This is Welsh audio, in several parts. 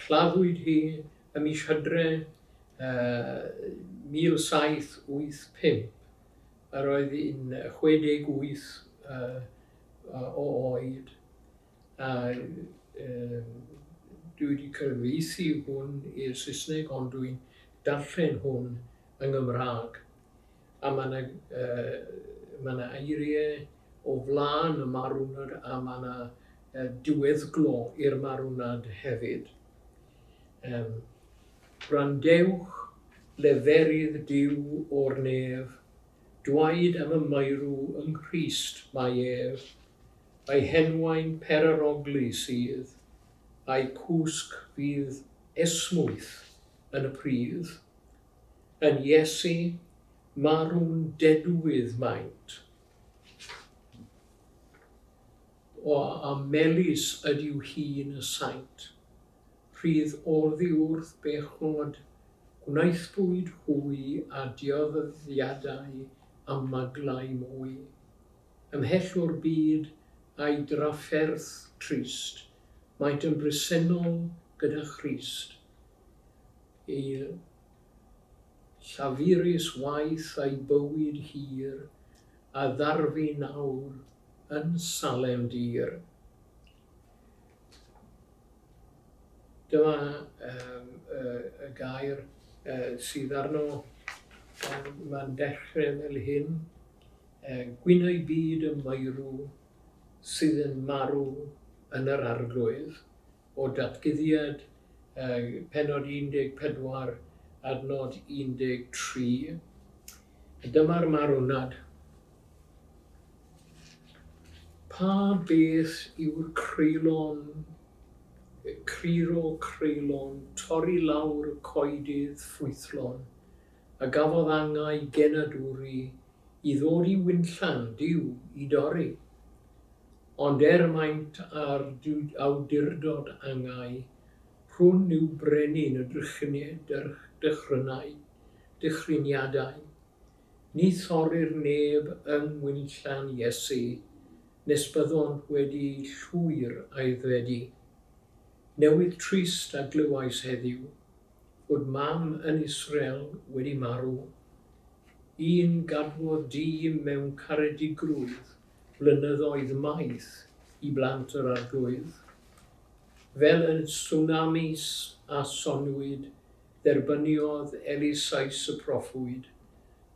Claddwyd hi ym mis Hydref 1785. Yr oedd hi'n 68 o oed a dwi wedi cyfieithu hwn i'r Saesneg ond dwi'n darllen hwn yng Nghymraeg. a ma' 'na yy ma' 'na eirie o flan y marwnad a ma' 'na yy diweddglo i'r marwnad hefyd. Yym Gwrandewch leferydd Duw o'r nef, dwaed am y maerw yng Nghrist mae ef, a'i henwau'n peraroglu sydd, a'i cwsg fydd esmwyth yn y pridd, Yn Iesu, marw'n dedwydd maent. O, a melys ydyw hun y saint. Rhydd oddi wrth bechnod, gwnaethpwyd hwy a dioddyddiadau a maglau mwy. Ymhell o'r byd a'i drafferth trist, maent yn bresennol gyda Christ. Ei llafurus waith a'i bywyd hir a ddarfu nawr yn Salem dir. Dyma y gair sydd arno, mae'n dechrau fel hyn, Gwynau byd y maerw sydd yn marw yn yr arglwydd. o Ddatguddiad, pennod 14, adnod 13, a dyma'r marwnad, Pa beth yw'r creulon, cruro creulon, torri lawr y coedydd ffrwythlon, a gafodd angau genadwri i ddod i winllan Duw i dorri? Ond er maint ar awdurdod angau, hwn yw brenin y drychineb dychrynau, dychriniadau. Ni thorrir neb yng ngwinllan Iesu, nes byddont wedi llwyr aeddfedu. Newydd trist a glywais heddiw, fod mam yn Israel wedi marw. Un gadwodd dyn mewn caredigrwydd blynyddoedd maith i blant yr Arglwydd, fel y tswnamis a soniwyd, dderbyniodd Elisais y proffwyd,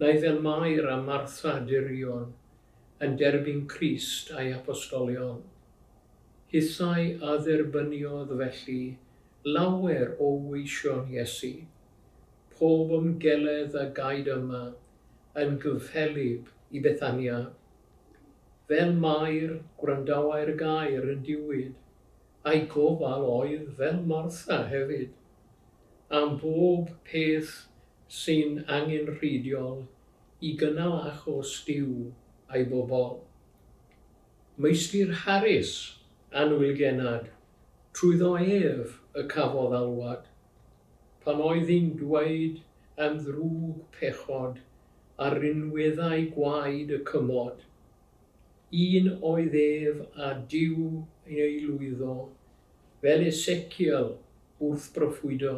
neu fel Mair a Martha dirion yn derbyn Crist a'i Apostolion. Hithau a dderbyniodd felly lawer o weision Iesu. Pob ymgeledd a gaed yma yn gyffelyb i Bethania. Fel Mair, gwrandawai'r gair yn diwyd, a'i gofal oedd fel Martha hefyd, am bob peth sy'n angenrheidiol i gynnal achos Duw a'i bobl. Meistr Harris, annwyl genad, trwyddo ef y cafodd alwad. pan oedd hi'n dweud yn ddrwg pechod ar rinweddau gwaed y cymod. Un oedd ef a Duw yn ei lwyddo, fel Esekiel wrth broffwydo,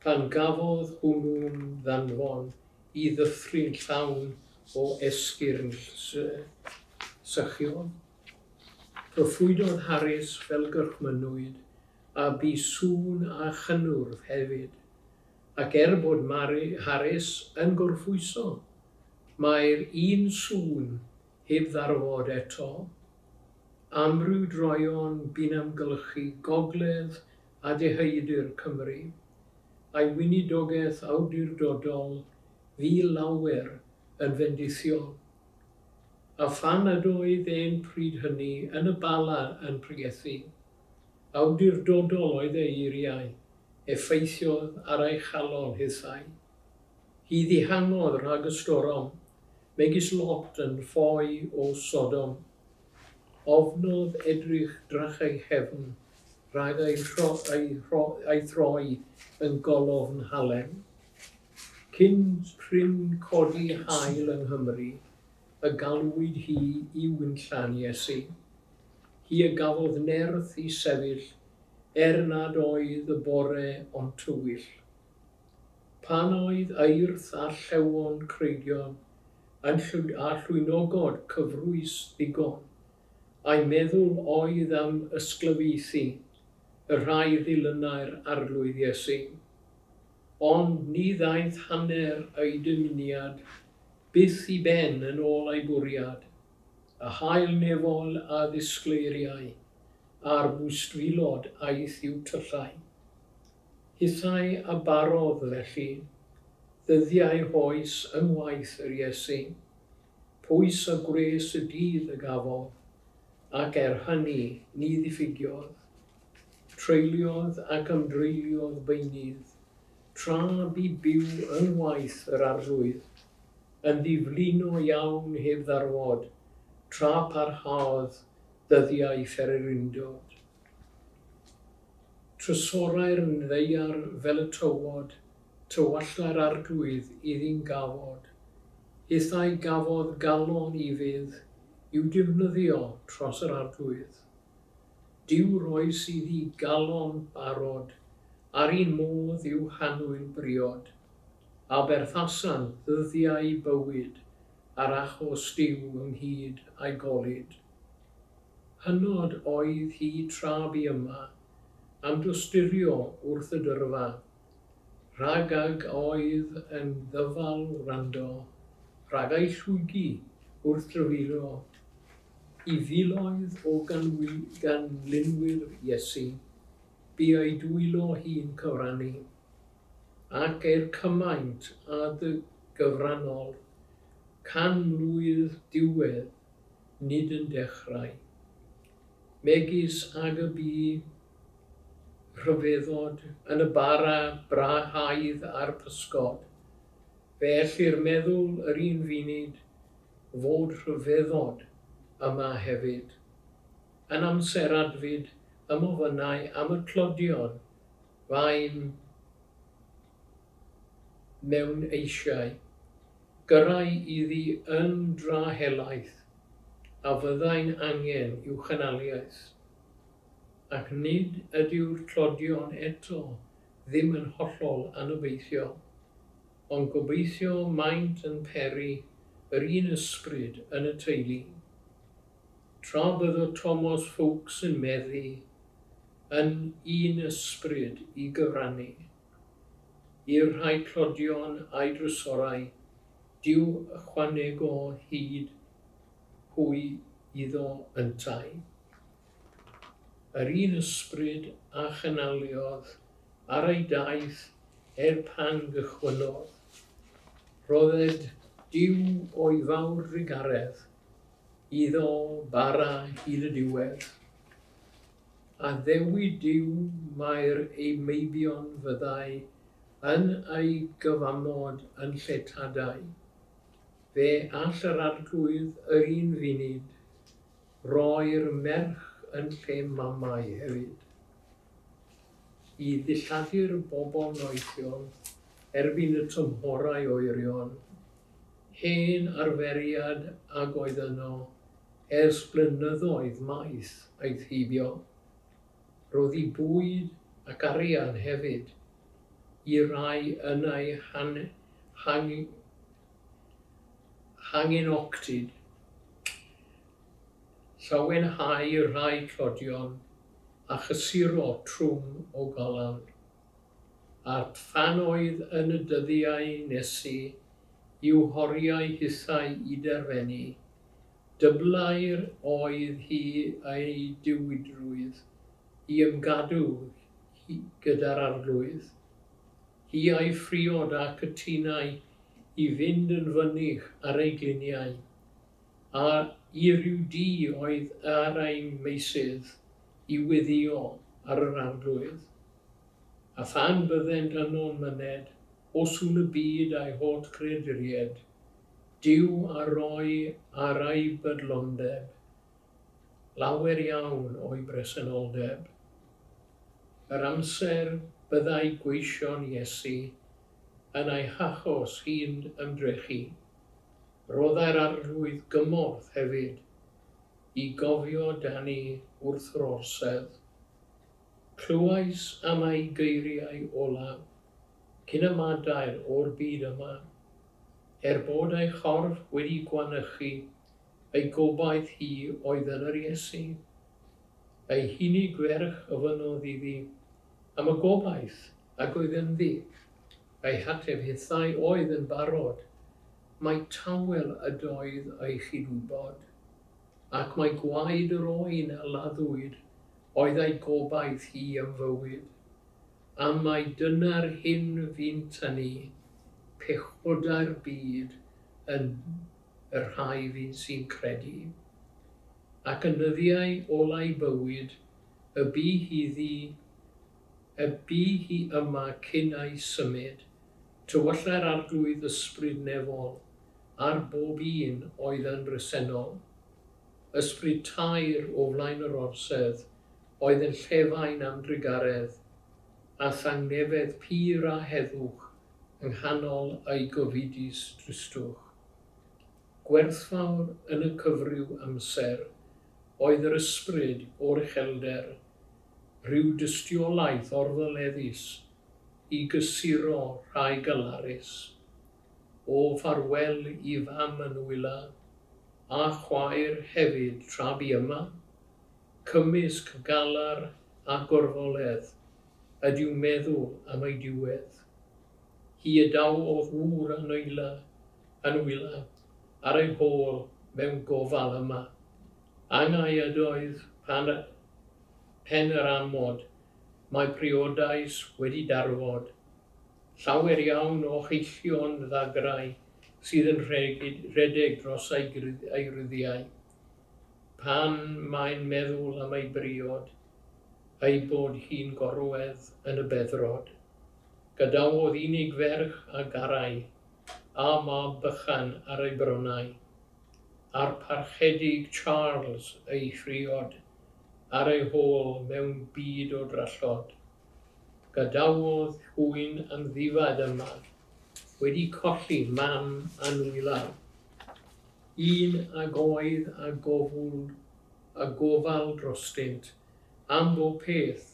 pan gafodd hwnnw'n ddanfon i ddyffryn llawn o esgyrn sychion. Proffwydodd Harris fel gorchmynnwyd a bu sŵn a chynnwrf hefyd, ac er bod Mari Harris yn gorffwyso, mae'r un sŵn heb ddarfod eto. Amryw droeon bu'n amgylchu gogledd a deheudir Cymru, a'i weinidogaeth awdurdodol fu lawer yn fendithiol. A phan nad oedd e'n pryd hynny yn y Bala yn pregethu, Awdurdodol oedd ei eiriau effeithiodd ar ei chalon hithau. Hi ddihangodd rhag y storom, megis Lot yn ffoi o Sodom. Ofnodd edrych drachau nghefn rhag ei throi yn golofn halen. Cyn prin codi haul yng Nghymru y galwyd hi i wynllan Iesu. hi y gafodd nerth i sefyll er nad oedd y bore o'n tywyll. Pan oedd Eirth a Llewon Creigion yn llwyd a llwynogod cyfrwys ddigon, a'i meddwl oedd am ysglyfaethu y rhai ddilynai'r Arglwydd Iesu. Ond ni ddaeth hanner ei dymuniad byth i ben yn ôl ei bwriad. a hail nefol a ddisgleiriai ar fwstfilod aeth i'w tyllau. Hithau a barodd, felly, ddyddiau hoes unwaith yr Iesu, pwys a gwres y dydd y gafodd, ac er hynny ni ddiffygiodd. Treuliodd ac ymdreuliodd beunydd Tra bu byw yn waith yr Arglwydd, yn ddiflino iawn heb ddarfod, tra parhaodd dyddiau ffererindod. Trysorau'r Ddaear fel y tywod, tywallai'r Arglwydd iddi'n gafod, hithau gafodd galon i fydd i'w defnyddio tros yr Arglwydd. Duw roes i ddi galon barod, a'r un modd yw hannwyl briod, a berthasan ddyddiau bywyd ar achos Duw ynghyd a'i golud. Hynod oedd hi tra bu yma, am dosturio wrth y dyrfa, Rhag ag oedd yn ddyfal wrando, rhag ei llwygi wrth dryfuro i filoedd o ganlinwyr Iesu, bu ei dwylo hi'n cyfrannu, ac er cymaint a dy gyfrannodd, canlwydd diwedd nid yn dechrau, megis ag y bu Rhyfeddod yn y bara brahaidd a'r pysgod, fe ellir meddwl yr un funud fod rhyfeddod yma hefyd. Yn amser adfyd ym ofynnau am y tlodion fain mewn eisiau, gyrrai iddi yn dra helaeth, a fyddai'n angen i'w chynaliaeth. Ac nid ydyw'r tlodion eto ddim yn hollol anobeithiol, ond gobeithio maent yn peri yr un ysbryd yn y teulu. Tra byddo Tomos Foulkes yn meddu, yn un ysbryd i gyfrannu i'r rhai tlodion a'i drysorau, Duw ychwanegol hyd hwy iddo yntau. Yr un ysbryd a chynhaliodd ar ei daith er pan gychwynnodd, rhodded Duw o'i fawr drugaredd iddo bara hyd y diwedd. Addewid Duw mai'r ei meibion fyddai yn ei gyfamod yn lle tadau. Fe all yr Arglwydd yr un funud Roi'r merch yn lle mamau hefyd. I ddilladdu'r bobl noethiol erbyn y tymhorau oerion, hen arferiad ag oedd yno ers blynyddoedd maith aeth heibio, rhoddi bwyd ac arian hefyd i rai yn eu hangen ocsid, llawenhau rhai tlodion a chysuro trwm o galar. A'r ffanoedd yn y dyddiau nesi i'w horiau hithau i derfenu. Dyblair oedd hi ei diwydrwydd i ymgadw gyda'r arglwydd. Hi a'i phriod a cytunai i fynd yn fynych ar ei gliniau, a i ryw du oedd ar ein meysydd i weddïo ar yr arglwydd. A phan byddent yno'n myned o sŵn y byd a'i hot creaduried, Duw a roi ar ei bydlondeb lawer iawn o'i bresenoldeb. Yr amser byddai gweision Iesu yn ei hachos hi'n ymdrechu, rhoddai'r Arglwydd gymorth hefyd i gofio dani wrth yr orsedd. Clywais am ei geiriau olaf cyn ymadael o'r byd yma, Er bod ei chorff wedi gwanychu, ei gobaith hi oedd yn yr Iesu. Ei hini gwerch ofynnodd iddi am y gobaith ag oedd ynddi. Ei hateb hithau oedd yn barod mai tawel ydoedd ei chyd-wybod, ac mai gwaed yr oen a laddwyd oedd ei gobaith hi am fywyd, a mai dyna'r hyn fu'n tynnu pechodau'r byd yn y rhai fydd sy'n credu, ac yn nyddiau olau bywyd, y bu hi ddu, y bu hi yma cyn ei symud, tywyllai'r Arglwydd ysbryd nefol ar bob un oedd yn resennol, ysbryd taer o flaen yr orsedd, oedd yn llefain am drugaredd, a thangnefedd pur a heddwch Nghanol ei gofidus dristwch, gwerthfawr yn y cyfryw amser oedd yr ysbryd o'r uchelder, rhyw dystiolaeth orddoleddus i gysuro rhai galarus. O ffarwel i fam yn wyla, a chwaer hefyd tra bu yma, cymysg galar a gorfoledd ydyw meddw am ei diwedd. Hi y daw o ŵr a nwyla yn wyla ar ei hôl mewn gofal yma. Angau ydoedd pan y pen yr amod mae priodas wedi darfod. Llawer iawn o heillio'n ddagrau sydd yn rhedeg dros ei ryddiau. pan mae'n meddwl am ei briod, a'i bod hi'n gorwedd yn y beddrod. Gadawodd unig ferch a garai, a mab bychan ar ei bronnau, a'r Parchedig Charles ei phriod ar ei hôl mewn byd o drallod. Gadawodd hwy'n amddifad yma, wedi colli mam a nwylan. un ag oedd a gofwl a gofal drostynt am bob peth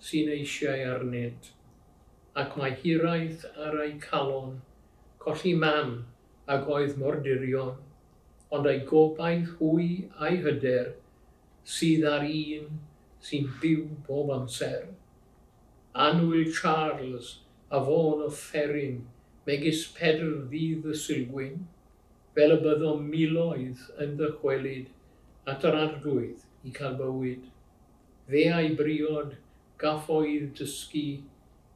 sy'n eisiau arnynt, ac mae hiraeth ar eu calon colli mam ag oedd mor dirion, ond ei gobaith hwy a'i hyder sydd ar un sy'n byw bob amser. Annwyl Charles a fo'n offeryn megis pedr ddydd y Sulgwyn, fel y byddom miloedd yn ddychwelyd at yr Arglwydd i cael bywyd. Fe a'i briod gafodd dysgu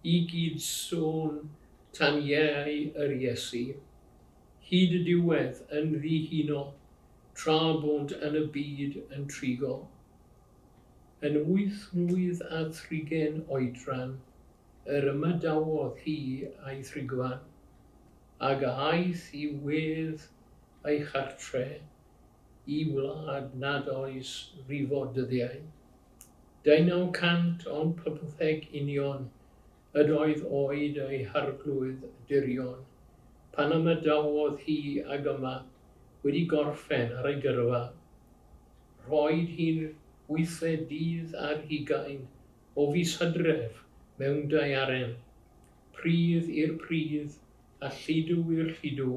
i gyd sôn tan iau yr Iesu, hyd y diwedd yn ddihuno tra bont yn y byd yn trigo. Yn wyth mlwydd a thrigen oedran yr ymadawodd hi a'i thrigfan. ag a aeth i wedd ei chartre i wlad nad oes rifo dyddiau. Deunaw cant ond pymtheg union yd oedd oed ei harglwydd dirion pan ymadawodd hi ag yma wedi gorffen ar ei gyrfa. Rhoed hi'n wythfed dydd ar hugain o fis Hydref mewn daearen, Pridd i'r pridd, a lludw i'r lludw,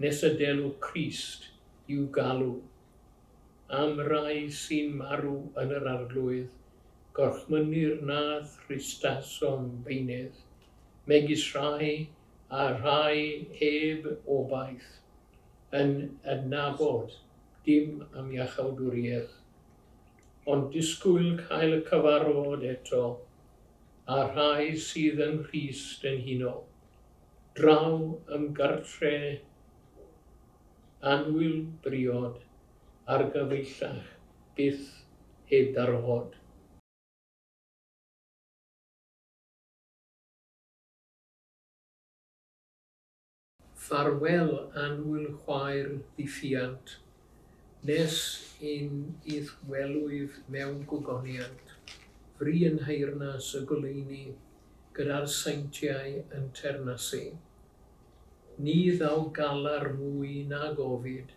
nes y delw Crist i'w galw. Am rai sy'n marw yn yr Arglwydd, gorchmynnir na thristasom beunydd, megis rhai a rhai heb obaith, yn adnabod dim am iachawdwriaeth, ond disgwyl cael y cyfarfod eto a rhai sydd yn rhy stenhinol, draw ym gartre annwyl briod argyfeillach byth heb darfod. Ffarwel annwyl chwaer ddifiant, nes un i'th welwyf mewn gogoniant, fri yn nheyrnas y goleuni, gyda'r seintiau yn teyrnasu. Ni ddaw galar mwy na gofid,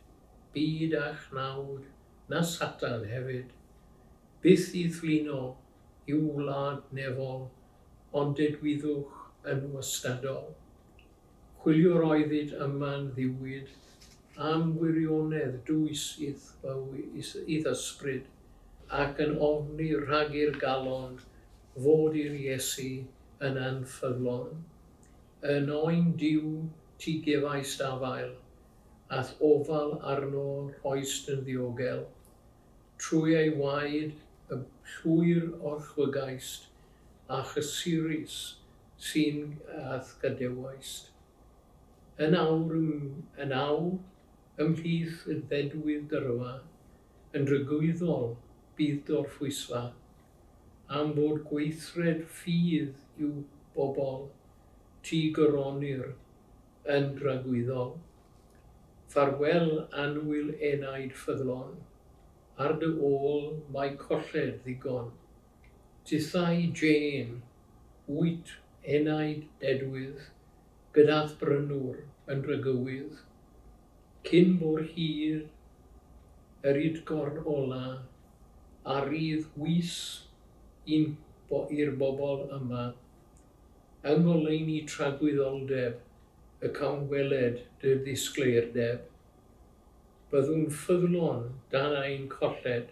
byd a chnawd, na Satan hefyd, byth i ddflino i'w wlad nefol, ond dedwyddwch yn wastadol. Chwiliwr oeddid yma'n ddiwyd am wirionedd dwys i ddysbryd, ac yn ofni rhag i'r galon fod i'r Iesu yn anffyddlon. Yn oen Duw ti gefaist afael, a'th ofal arno rhoist yn ddiogel. Trwy ei waed y llwyr orchfygaist, a chysurus Sy'n gath gadewaist. Yn awr yn awr, ymhlith y dedwydd dyrfa, yn drygwyddol bydd dorffwysfa, am fod gweithred ffydd i'w bobl, ti goronir yn dragwyddol. Ffarwel annwyl enaid ffyddlon, ar dy ôl mae colled ddigon. Tithau Jane, wyt, enaid dedwydd, gyda'th brynwr yn rhygywydd, cyn bo'r hir, yr udgorn ola, a rydd wys i'n bo i'r bobl yma, yng ngoleuni tragwyddoldeb y cawn weled dy ddisgleirdeb. Byddwn ffyddlon dan ein colled,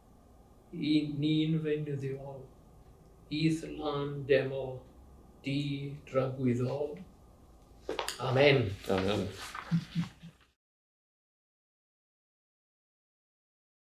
Y ni'n feunyddiol, i'th lan demo di dragwyddol. Amen. Amen.